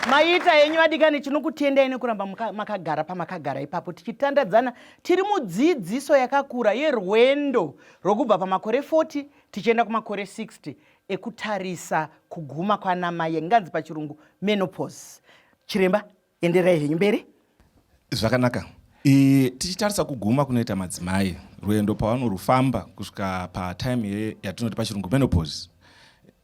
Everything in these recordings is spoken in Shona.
maita henyu vadikani tinokutendai nekuramba makagara pamakagara ipapo tichitandadzana tiri mudzidziso yakakura yerwendo rwokubva pamakore 40 tichienda kumakore 60 ekutarisa kuguma kwanamaye nganzi pachirungu menopos chiremba enderai henyu mberi zvakanaka e, tichitarisa kuguma kunoita madzimai rwendo pavanorufamba kusvika patime ye yatinoti pachirungu menopause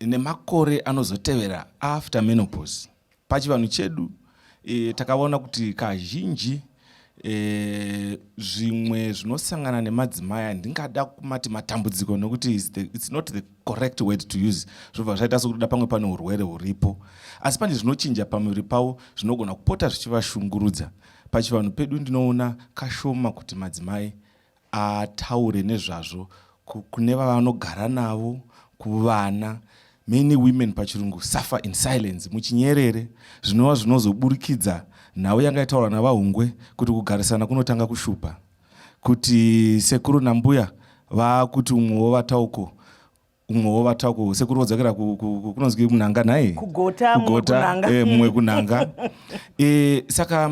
nemakore anozotevera after menopause pachivanhu chedu e, takaona kuti kazhinji e, zvimwe zvinosangana nemadzimai handingada kumati matambudziko nokuti it's not the correct word to use zvobva zvaita sokutoda pamwe pane urwere huripo asi pane zvinochinja pamuviri pavo zvinogona kupota zvichivashungurudza pachivanhu pedu ndinoona kashoma kuti madzimai ataure nezvazvo kune vavanogara navo kuvana many women pachirungu suffer in silence muchinyerere zvinova zvinozoburikidza nhau yanga itaurwa navahungwe kuti kugarisana kunotanga kushupa kuti sekuru nambuya vaakuti umwe wovatauko umwe wovatauko sekuru vodzokera kunonzi kunhanga nhai kugota eh, mumwe kunhanga eh, saka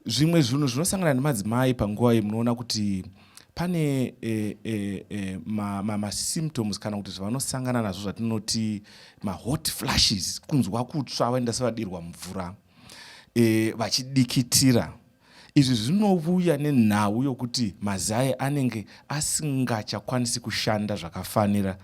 zvimwe zvinhu zvinosangana nemadzimai panguva iyi munoona kuti pane e, e, e, masymptoms ma, ma kana kuti zvavanosangana nazvo zvatinoti mahot flashes kunzwa kutsva vaenda sevadirwa mvura e, vachidikitira Izvi zvinovuya nenhau yokuti mazai anenge asingachakwanisi kushanda zvakafanira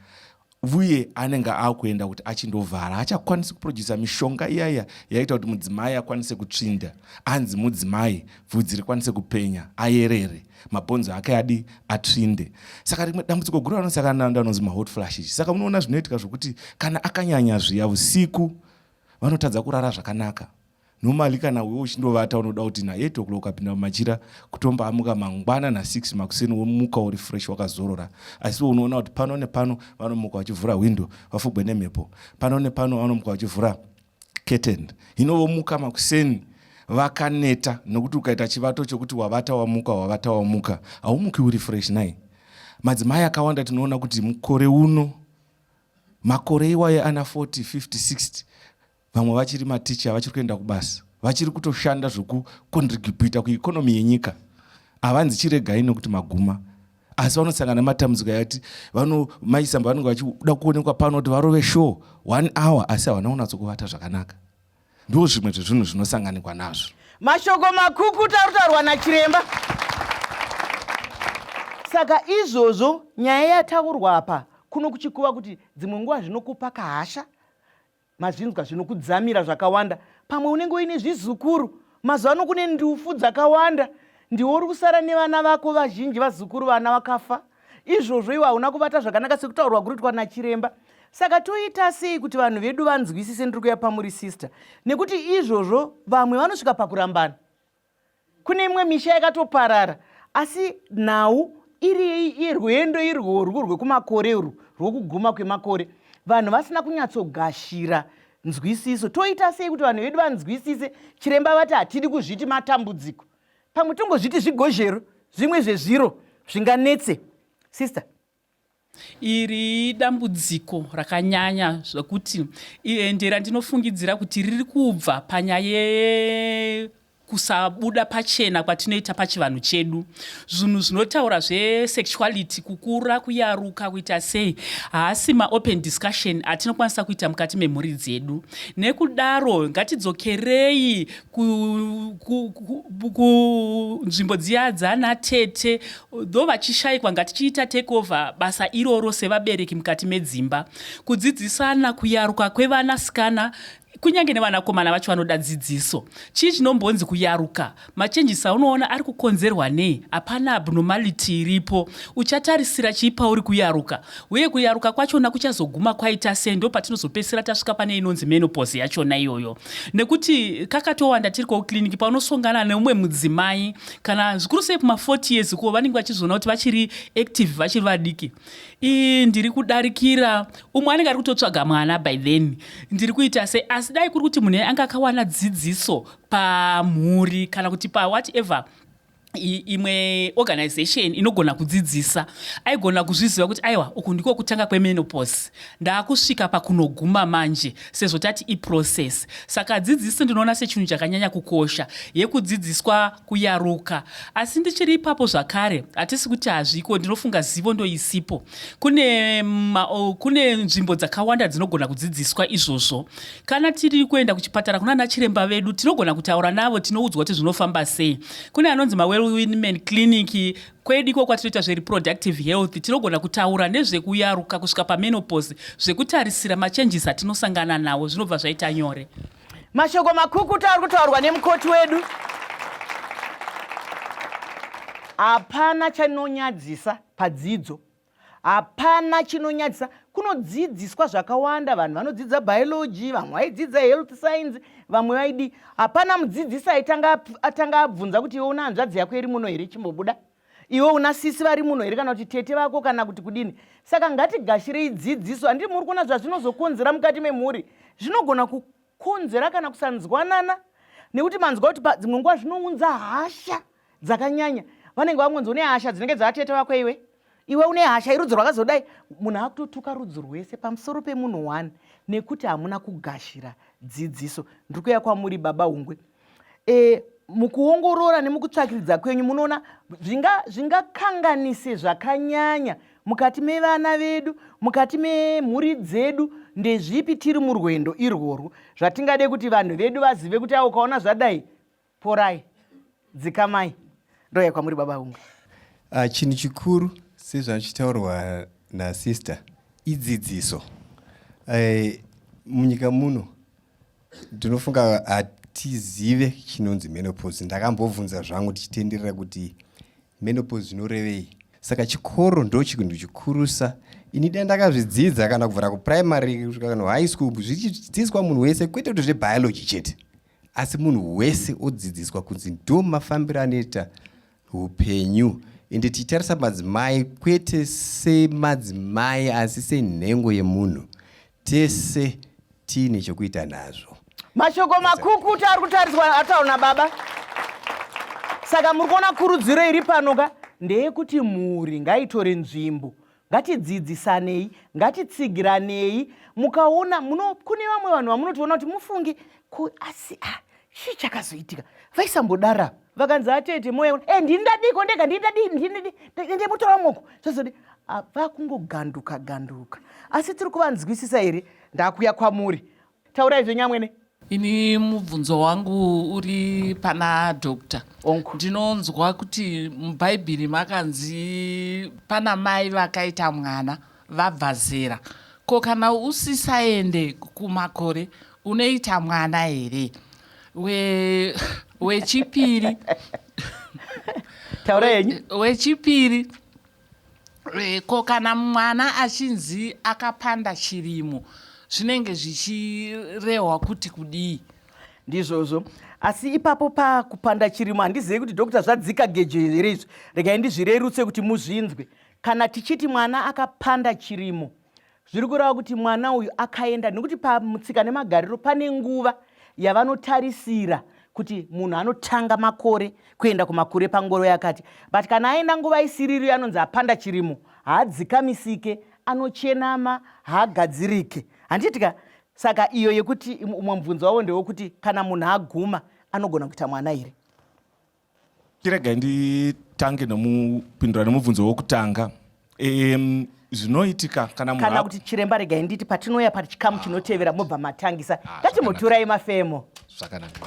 vuye anenge akuenda kuti achindovhara haachakwanisi kuproducer mishonga iyaya yaita kuti mudzimai akwanise kutsvinda anzi mudzimai vhudzi rikwanise kupenya ayerere mabhonzo ake adi atsvinde saka rimwe dambudziko guru anosakana ndanonzi mahot flashes saka munoona zvinoitika zvokuti kana akanyanya zviya usiku vanotadza kurara zvakanaka normally kana wewe uchindovata unoda kuti na 8 o'clock ukapinda mumachira kutomba amuka mangwana na 6 makuseni womuka uri fresh wakazorora asi we unoona kuti pano nepano vanomuka vachivhura window vafugwe nemhepo pano nepano vanomuka vachivhura curtain hino vomuka makuseni vakaneta nokuti ukaita chivato chokuti wavata wamuka wavata wamuka haumuki uri fresh nai madzimai akawanda tinoona kuti mukore uno makore iwayo ana 40 50 60 vamwe vachiri maticha vachiri kuenda kubasa vachiri kutoshanda zvokukondrigibhita kuikonomi yenyika havanzi chiregai nokuti maguma asi vanosangana nematambudziko yati vanomaisamba vanenge vachida kuonekwa pano kuti varove show one hour asi havana kunatso kuvata zvakanaka ndiwo zvimwe zvezvinhu zvinosanganikwa nazvo mashoko makukuta arutaurwa nachiremba saka izvozvo nyaya yataurwa apa kuno kuchikuva kuti dzimwe nguva zvinokupa kahasha Mazvinzwa zvino kudzamira zvakawanda. Pamwe unenge uine zvizukuru. Mazuva ano kune ndufu dzakawanda. Ndiwo uri kusara nevana vako vazhinji vazukuru vana vakafa. Izvozvo iwe hauna kubata zvakanaka sekutaurwa kuri kuitwa nachiremba. Saka toita sei kuti vanhu vedu vanzwisise ndiri kuya pamuri sister nekuti izvozvo vamwe vanosvika pakurambana. kune imwe misha yakatoparara asi nhau iri irwendo irworwu rwekumakore urwu rwokuguma kwemakore vanhu vasina kunyatsogashira nzwisiso toita sei kuti vanhu vedu vanzwisise chiremba vati hatidi kuzviti matambudziko pamwe tongozviti zvigozhero zvimwe zvezviro zvinganetse sister Iri idambudziko rakanyanya zvekuti ende randinofungidzira kuti riri kubva panyaya ye kusabuda pachena kwatinoita pachivanhu chedu zvinhu zvinotaura zvesexuality kukura kuyaruka kuita sei haasi maopen discussion atinokwanisa kuita mukati memhuri dzedu nekudaro ngatidzokerei kunzvimbo dziya dzana tete tho vachishaikwa ngatichiita takeover basa iroro sevabereki mukati medzimba kudzidzisana kuyaruka kwevana sikana kunyange nevanakomana vacho vanoda dzidziso chii chinombonzi kuyaruka machenjisi aunoona ari kukonzerwa nei hapana abnormality iripo uchatarisira chii pauri kuyaruka Uye kuyaruka kwachona kuchazoguma kwaita sei ndopatinozopedzisira tasvika pane inonzi menopause yachona iyoyo nekuti kakatowanda tiri kouclinic paunosongana neumwe mudzimai kana zvikuru sei kuma40 years kuwo vanenge vachizviona kuti vachiri active vachiri vadiki ii ndiri kudarikira umwe anenge ari kutotsvaga mwana by then ndiri kuita sei asi dai kuri kuti munhu anga akawana dzidziso pamhuri kana kuti pawhatever imwe organization inogona kudzidzisa aigona kuzviziva kuti aiwa uku ndiko kutanga kwemenopos ndaakusvika pakunoguma manje sezvo tati iprocess saka dzidziso ndinoona sechinhu chakanyanya kukosha yekudzidziswa kuyaruka asi ndichiri ipapo zvakare hatisi kuti hazviko ndinofunga zivo ndoisipo kune, kune nzvimbo dzakawanda dzinogona kudzidziswa izvozvo Kana tiri kuenda kuchipatara kuna ana chiremba vedu tinogona kutaura navo tinoudzwa kuti zvinofamba sei. Kune anonzi maWellwomen Clinic kwedu iko kwatinoita zvereproductive health tinogona kutaura nezvekuyaruka kusvika pamenopause zvekutarisira machanges atinosangana nawo zvinobva zvaita nyore. Mashoko makukuta ari kutaurwa nemukoti wedu hapana chanonyadzisa padzidzo hapana chinonyadzisa kunodzidziswa zvakawanda vanhu vanodzidza biology vamwe vaidzidza health science vamwe vaidi hapana mudzidzisi aitanga atanga abvunza kuti iwe una hanzvadzi yako iri muno here chimbobuda iwe una sisi vari muno here kana kuti tete vako kana kuti kudini saka ngatigashirei dzidziso handii muri kuona zvazvinozokonzera mukati memhuri zvinogona kukonzera kana kusanzwanana nekuti manzwa kuti padzimwe nguva zvinounza hasha dzakanyanya vanenge vakungonzi une hasha dzinenge dzavatete vako iwe iwe une hasha irudzi rwakazodai munhu akutotuka rudzi rwese pamusoro pemunhu one nekuti hamuna kugashira dzidziso ndiri kuya kwamuri baba hungwe e, mukuongorora nemukutsvakiridza kwenyu munoona zvingakanganise zvakanyanya mukati mevana vedu mukati memhuri dzedu ndezvipi tiri murwendo irworwo zvatingade kuti vanhu vedu vazive kuti a ukaona zvadai Porai, dzikamai, ndouya kwamuri baba vumwe. Uh, ah, chinhu chikuru sezvachitaurwa nasister idzidziso. Uh, munyika muno ndinofunga hatizive chinonzi menopause. Ndakambobvunza zvangu tichitenderera kuti menopause zvinorevei. Saka chikoro ndo chinhu chikurusa ini dai ndakazvidzidza kana kubvira kuprimary kusvika kana high school zvichidzidziswa munhu wese kwete kuti zvebiology chete asi munhu wese odzidziswa kunzi ndo mafambiro anoita upenyu ende tichitarisa madzimai kwete semadzimai asi senhengo yemunhu tese tiine chokuita nazvo mashoko makukuta ari kutariswa ataona baba saka muri kuona kurudziro iri pano ka ndeyekuti mhuri ngaitore nzvimbo ngatidzidzisanei ngatitsigiranei mukaona muno kune vamwe vanhu vamunotoona kuti mufungi ko asi a ah, chii chakazoitika vaisambodara vakanzi atete ah, moya e ndini ndadiko ndega ndini ndadii ndini ndemutora moko zvazodi ah, vakungoganduka ganduka asi tiri kuvanzwisisa here ndakuya kwamuri Taurai zvenyu amwene. Ini mubvunzo wangu uri pana doctor. Onko. Ndinonzwa kuti mubhaibhiri makanzi pana mai vakaita mwana vabva zera. Ko kana usisaende kumakore unoita mwana here? We wechipiri. Taura yenyu. Wechipiri. Eh, ko kana mwana achinzi akapanda chirimo zvinenge zvichirehwa kuti kudii ndizvozvo asi ipapo pakupanda chirimo handizive kuti dokta zvadzika gejo here izvi regai ndizvirerutse kuti muzvinzwe kana tichiti mwana akapanda chirimo zviri kureva kuti mwana uyu akaenda nekuti pamutsika nemagariro pane nguva yavanotarisira kuti munhu anotanga makore kuenda kumakure pangoro yakati but kana aenda nguva isiriri anonzi apanda chirimo haadzikamisike anochenama haagadzirike handiitika saka iyo yekuti umwe mubvunzo wavo ndewekuti kana munhu aguma anogona kuita mwana here Chiregai nditange nomupindura nomubvunzo wokutanga. Um, zvinoitika kana munhu kana kuti chiremba regai nditi patinouya pachikamu chinotevera mobva matangisa ah, ngati muturai mafemo zvakanaka